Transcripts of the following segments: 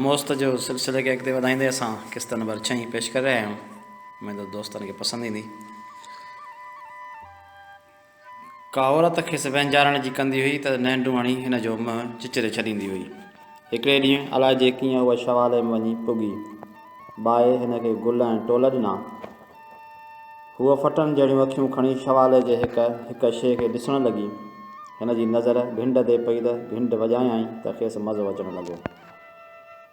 موست جو سلسلي کي اڳتي وڌائيندي اسان قسط نمبر ڇهين پيش ڪري رهيا آهيون اميد دوستن کي پسند ايندي ڪا عورت کيس وهنجارڻ جي ڪندي هئي ته نهنڊون هڻي هن جو منهن چچري ڇڏيندي هئي. هڪڙي ڏينهن الائجي ڪيئن هوء شوالي ۾ وڃي پڳي. بائي هن کي گل ۽ ٽول ڏنا. هوء ڦٽن جهڙيون اکيون کڻي شوالي جي هڪ هڪ شيء کي ڏسڻ لڳي. هن جي نظر گهنڊ تي پئي ته گهنڊ وڄايائين ته کيس مزو اچڻ لڳو.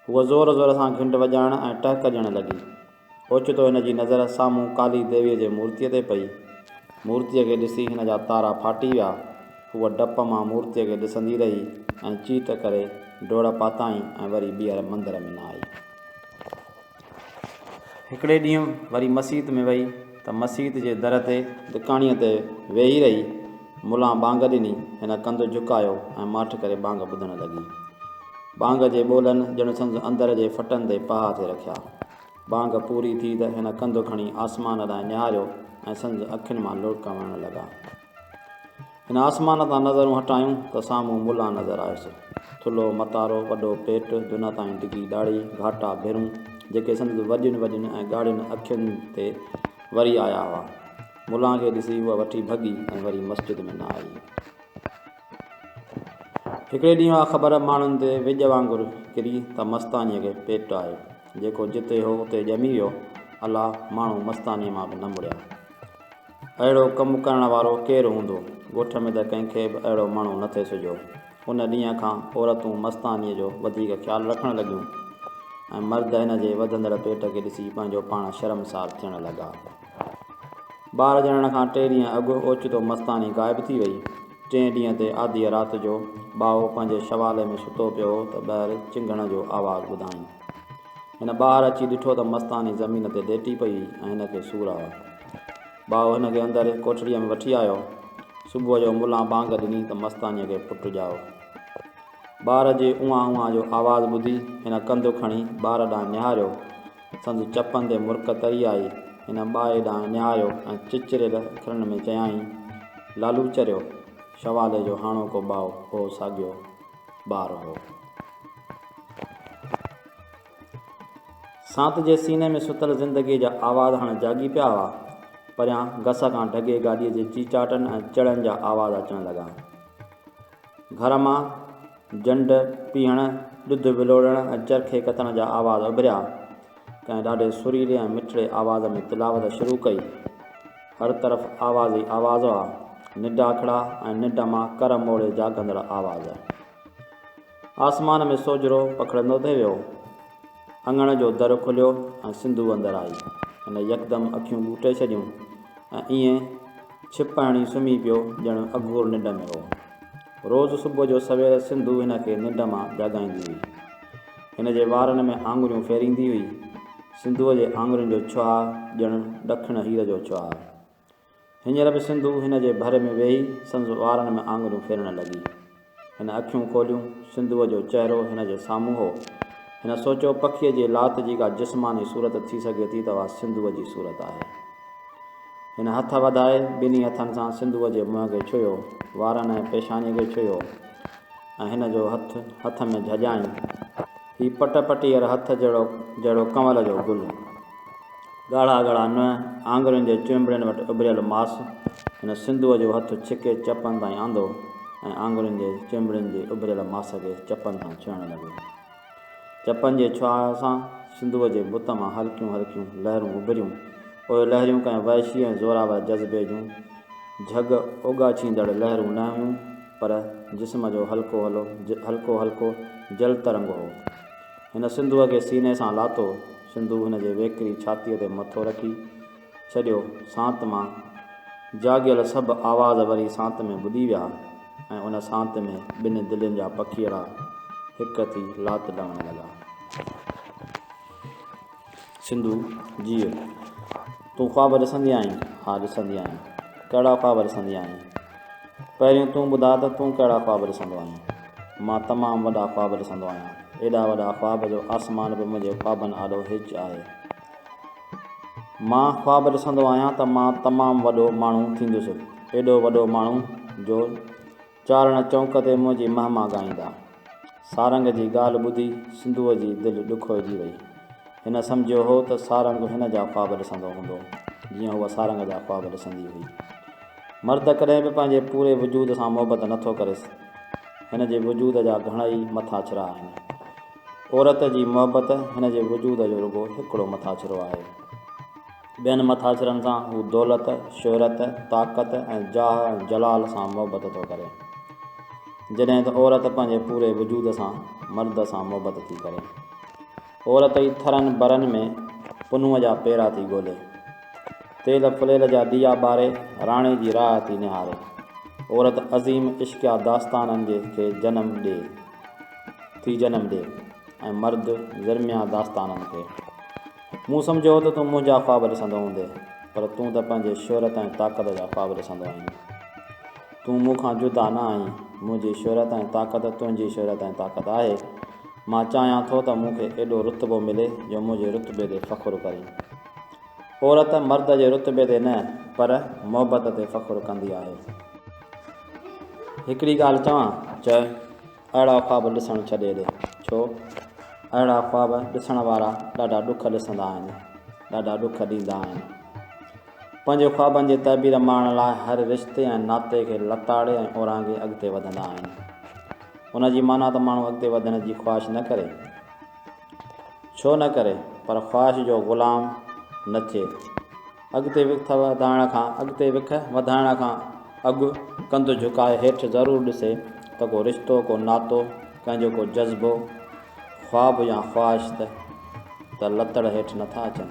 هوء زور زور سان گهنڊ وڄائڻ ۽ ٽهڪ ڏيڻ لڳي. اوچتو هن جي نظر سامهون ڪالي ديويء جي مورتيء تي پئي. مورتيء کي ڏسي هن جا تارا ڦاٽي ويا. هوء ڊپ مان مورتيء کي ڏسندي رهي ۽ چيٽ ڪري ڊوڙ پاتائين ۽ وري ٻيهر مندر ۾ نه آئي. هڪڙي ڏينهن وري مسيت ۾ وئي ته مسيت جي در تي دڪاڻيء تي ويهي رهي. ملان ٻانگ ڏني، هن ڪنڌ جهڪايو ۽ ماٺ ڪري ٻانگ ٻڌڻ لڳي. ٻانگ جي ٻولن ڄڻ سندس اندر جي ڦٽن تي پها ٿي رکيا. ٻانگ پوري ٿي ته هن ڪنڌ کڻي آسمان ڏانهن نهاريو ۽ سندس اکين مان لڙڪ وهڻ لڳا. هن آسمان تان نظرون هٽايون ته سامهون ملان نظر آيس. ٿلهو متارو، وڏو پيٽ، دونهن تائين ڊگهي ڏاڙهي، گهاٽا ڀرون، جيڪي سندس وڏين وڏين ۽ ڳاڙهين اکين تي وري آيا هئا. ملان کي ڏسي هوء وٺي ڀڳي ۽ وري مسجد ۾ نه آئي. هڪڙي ڏينهن اها خبر ماڻهن تي ويڄ وانگر ڪري ته مستانيء کي پيٽ آيو. جيڪو جتي هو اتي ڄمي ويو. الا ماڻهو مستانيء مان به نه مڙيا. اهڙو ڪم ڪرڻ وارو ڪير هوندو؟ ڳوٺ ۾ ته ڪنهن کي به اهڙو ماڻهو نه ٿي سجهيو. ان ڏينهن کان عورتون مستانيء جو وڌيڪ خيال رکڻ لڳيون ۽ مرد هن جي وڌندڙ پيٽ کي ڏسي پنهنجو پاڻ شرمسار ٿيڻ لڳا. ٻار ڄڻڻ کان ٽي ڏينهن اڳ اوچتو مستاني غائب ٿي وئي. ٽئين ڏينهن تي آڌيء رات جو ٻائو پنهنجي شوالي ۾ ستو پيو هو ته ٻهر چنگهڻ جو آواز ٻڌائين. هن ٻاهر اچي ڏٺو ته مستاني زمين تي ليٽي پئي هئي ۽ هن کي سور هئا. ٻائو هن کي اندر ڪوٺڙيء ۾ وٺي آيو. صبح جو ملان بانگ ڏني ته مستانيء کي پٽ ڄائو. ٻار جي اونهان اونهان جو آواز ٻڌي هن ڪنڌ کڻي ٻار ڏانهن نهاريو. سندس چپن تي مرڪ تري آئي. هن ٻائي ڏانهن نهاريو ۽ چچريل اکرن ۾ چيائين، لالوچريو! شوالي جو هاڻوڪو ٻائو هو ساڳيو ٻار هو. سانت جي سيني ۾ ستل زندگيء جا آواز هاڻي جاڳي پيا هئا. پريان گس کان ڊگهي گاڏيء جي چيچاٽن ۽ چڙن جا آواز اچڻ لڳا. گهر مان جنڊ پيهڻ، ڏڌ ولوڙڻ ۽ چرخي ڪتڻ جا آواز اڀريا. ڪنهن ڏاڍي سريلي ۽ مٺڙي آواز ۾ تلاوت شروع ڪئي. هر طرف آواز ئي آواز هئا. نڊاکڙا ۽ ننڊ مان ڪر موڙي جاڳندڙ آواز. آسمان ۾ سوجهرو پکڙندو ٿي ويو. اڱڻ جو در کليو ۽ سنڌو اندر آئي. هن يڪدم اکيون ٻوٽي ڇڏيون ۽ ائين ڇپاڻي سمهي پيو ڄڻ اگهور ننڊ ۾ هو. روز صبح جو سوير سنڌو هن کي ننڊ مان جاڳائيندي هئي. هن جي وارن ۾ آڱريون ڦيريندي هئي. سنڌوء جي آڱرين جو ڇهاء ڄڻ ڏکڻ هير جو ڇهاء. هينئر به سنڌو هن جي ڀر ۾ ويهي سندس وارن ۾ آڱريون ڦيرڻ لڳي. هن اکيون کوليون، سنڌوء جو چهرو هن جي سامهون هو. هن سوچيو، پکيء جي لات جي ڪا جسماني صورت ٿي سگهي ٿي ته اها سنڌوء جي صورت آهي. هن هٿ وڌائي، ٻنهي هٿن سان سنڌوء جي منهن کي ڇهيو، وارن ۽ پيشانيء کي ڇهيو ۽ هن جو هٿ هٿ ۾ جهڄائين. هي پٽ پٽيهر هٿ جهڙو جهڙو ڪنول جو گل. ڳاڙها ڳاڙها ننهن، آڱرين جي چونبڙين وٽ اڀريل ماس، هن سنڌوء جو هٿ ڇڪي چپن تائين آندو ۽ آڱرين جي چونبڙين جي اڀريل ماس کي چپن سان ڇهڻ لڳو. چپن جي ڇهاء سان سنڌوء جي بت مان هلڪيون هلڪيون لهرون اڀريون. اهي لهريون ڪنهن وحشي ۽ زورآور جذبي جون جهڳ اوڳاڇيندڙ لهرون نه هيون، پر جسم جو هلڪو هلو هلڪو هلڪو جل ترنگ هو. هن سنڌوء کي سيني سان لاتو، سنڌو هن جي ويڪري ڇاتيء تي مٿو رکي ڇڏيو، سانت مان جاڳيل سڀ آواز وري سانت ۾ ٻڏي ويا ۽ ان سانت ۾ ٻن دلين جا پکيئڙا هڪ ٿي لات ڊوڻ لڳا. سنڌو، جيء، تون خواب ڏسندي آهين؟ ها ڏسندي آهيان. ڪهڙا خواب ڏسندي آهين؟ پهريون تون ٻڌاء ته تون ڪهڙا خواب ڏسندو آهين؟ مان تمام وڏا خواب ڏسندو آهيان. ايڏا وڏا خواب جو آسمان به منهنجي خوابن آڏو هيچ آهي. مان خواب ڏسندو آهيان ته مان تمام وڏو ماڻهو ٿيندس. ايڏو وڏو ماڻهو جو. چارڻ چونڪ تي منهنجي مهما ڳائيندا. سارنگ جي ڳالهه ٻڌي سنڌوء جي دل ڏکوئجي وئي. هن سمجهيو هو ته سارنگ هن جا خواب ڏسندو هوندو، جيئن هوء سارنگ جا خواب ڏسندي هئي. مرد ڪڏهن به پنهنجي پوري وجود سان محبت نه ٿو ڪريس. هن جي وجود جا گهڻائي مٿاڇرا آهن. عورت جي محبت هن جي وجود جو رڳو هڪڙو مٿاڇرو آهي. ٻين مٿاڇرن سان هو دولت، شهرت، طاقت ۽ جاهه ۽ جلال سان محبت ٿو ڪري، جڏهن ته عورت پنهنجي پوري وجود سان مرد سان محبت ٿي ڪري. عورت ئي ٿرن برن ۾ پنهونء جا پيرا ٿي ڳولي، تيل ڦليل جا ڏيئا ٻاري راڻي جي راهه ٿي نهاري، عورت عظيم عشقيه داستانن جي کي جنم ڏي، ٿي جنم ڏي ۽ مرد زرميا داستانن کي. مون سمجهيو هو ته تون منهنجا خواب ڏسندو هوندي پر تون ته پنهنجي شهرت ۽ طاقت جا خواب ڏسندو آهين. تون مون کان جدا نه آهين، منهنجي شهرت ۽ طاقت تنهنجي شهرت ۽ طاقت آهي. مان چاهيان ٿو ته مون کي ايڏو رتبو ملي جو منهنجي رتبي تي فخر ڪرين. عورت مرد جي رتبي تي نه پر محبت تي فخر ڪندي آهي. هڪڙي ڳالهه چوان؟ چئه. اهڙا خواب ڏسڻ ڇڏي ڏي. ڇو؟ اهڙا خواب ڏسڻ وارا ڏاڍا ڏک ڏسندا آهن، ڏاڍا ڏک ڏيندا آهن. پنهنجي خوابن جي تعبير ماڻڻ لاء هر رشتي ۽ ناتي کي لتاڙي ۽ اورانگهي اڳتي وڌندا آهن. ان جي معنيٰ ته ماڻهو اڳتي وڌڻ جي خواهش نه ڪري. ڇو نه ڪري؟ پر خواهش جو غلام نه ٿئي. اڳتي وک وڌائڻ کان اڳتي وک وڌائڻ کان اڳ ڪنڌ جهڪائي هيٺ ضرور ڏسي ته ڪو رشتو ڪو ناتو ڪنهن جو ڪو جذبو خواب يا خواهش ته ته لتڙ هيٺ نه ٿا اچن.